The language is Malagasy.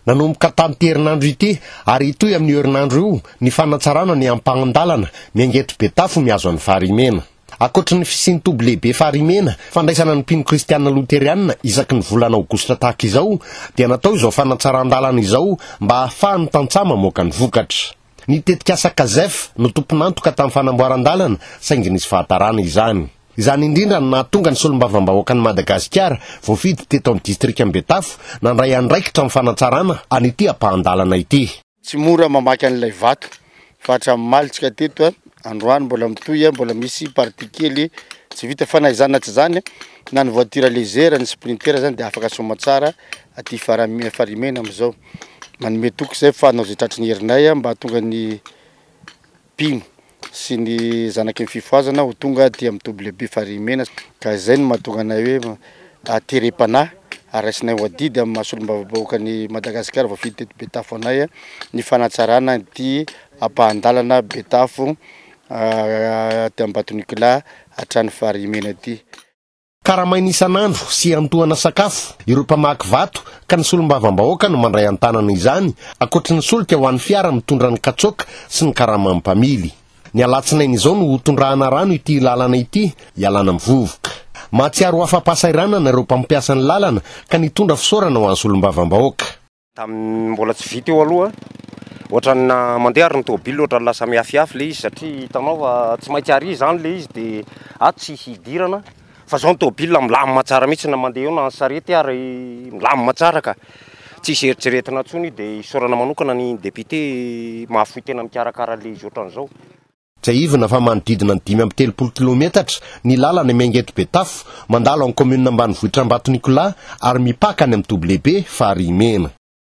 Nanomboka tamin'ity herinandro ity ary hitohy amin'io herinandro io ny fanatsarana ny ampahan-dalana miangeto Betafo mihazo an'i Farimena. Ankoatry ny fisian'ny toby lehibe Farimena fandraisana ny mpino kristiana loterianina isaky ny volana aogositra tahaka izao dia natao izao fanatsaran-dalana izao mba hahafahan'ny tantsaha mamoaka ny vokatra. Ny tetikasa Casef no tompon'antoka tamin'ny fanamboaran-dalana saingy nisy fahatarana izany. Izany indrindra no nahatonga ny solombavambahoakan'i Madagasikara, voafidy teto amin'ny distrikan'i Betafo, nandray andraikitra amin'ny fanatsarana an'ity ampahan-dalana ity. Tsy mora mamaky an'ilay vato fa hatramin'ny omaly tsika teto androany mbola mitohy mbola misy partie kely tsy vita fa na izany na tsy izany na ny voiture légère ny sprinter izany dia afaka somatsara aty farimena amin'izao. Manome toky izay fa hanao izay tratry ny herinay aho mba hahatonga ny mpino sy ny zanaky ny fifohazana ho tonga dia mitoby lehibe farihy-mena, ka izay no mahatonga anay hoe aterem-panahy ary raisinay ho adidy amin'ny maha solombavambahoakan'i Madagasikara voafidy teto Betafo anay ny fanatsarana ity ampahan-dalana Betafo, tia Ambatonikola hatrany Farihy-mena ity. Karamaina isan'andro sy iantohana sakafo ireo mpamaky vato ka ny solombavambahoaka no mandray an-tanana izany, ankoatry ny solika ho an'ny fiara mitondra ny katsoaka sy ny karaman'ny mpamily. Ny alatsinainy izao no ho tondrahana rano ity lalana ity hialana amin'ny vovoka. Mahatsiaro ho afa-pahasahiranana ireo mpampiasa ny lalana ka nitondra fisaorana ho an'ny solombavambahoaka. Tamin'ny mbola tsy vita io aloha, ohatran'ny na mandeha ary ny tôbily ohatran'ny lasa mihafihafy ilay izy satria hitanao fa tsy maintsy àry izany ilay izy dia ato tsy hidirana fa izao ny tôbily milamina tsara mihitsy na mandeha eo na ny sarety ary milamina tsara ka tsisy eritreretina intsony dia isaorana manokana ny député mahafoy tena mikarakara ilay izy ohatran'izao. Tsiahivina fa manodidina ny dimy amby telopolo kilometatra ny lalana Miangeto-Betafo, mandalo an'ny kaominina ambanivohitr'Ambato Nicolas ary mipaka any amin'ny toby lehibe Farihy Mena.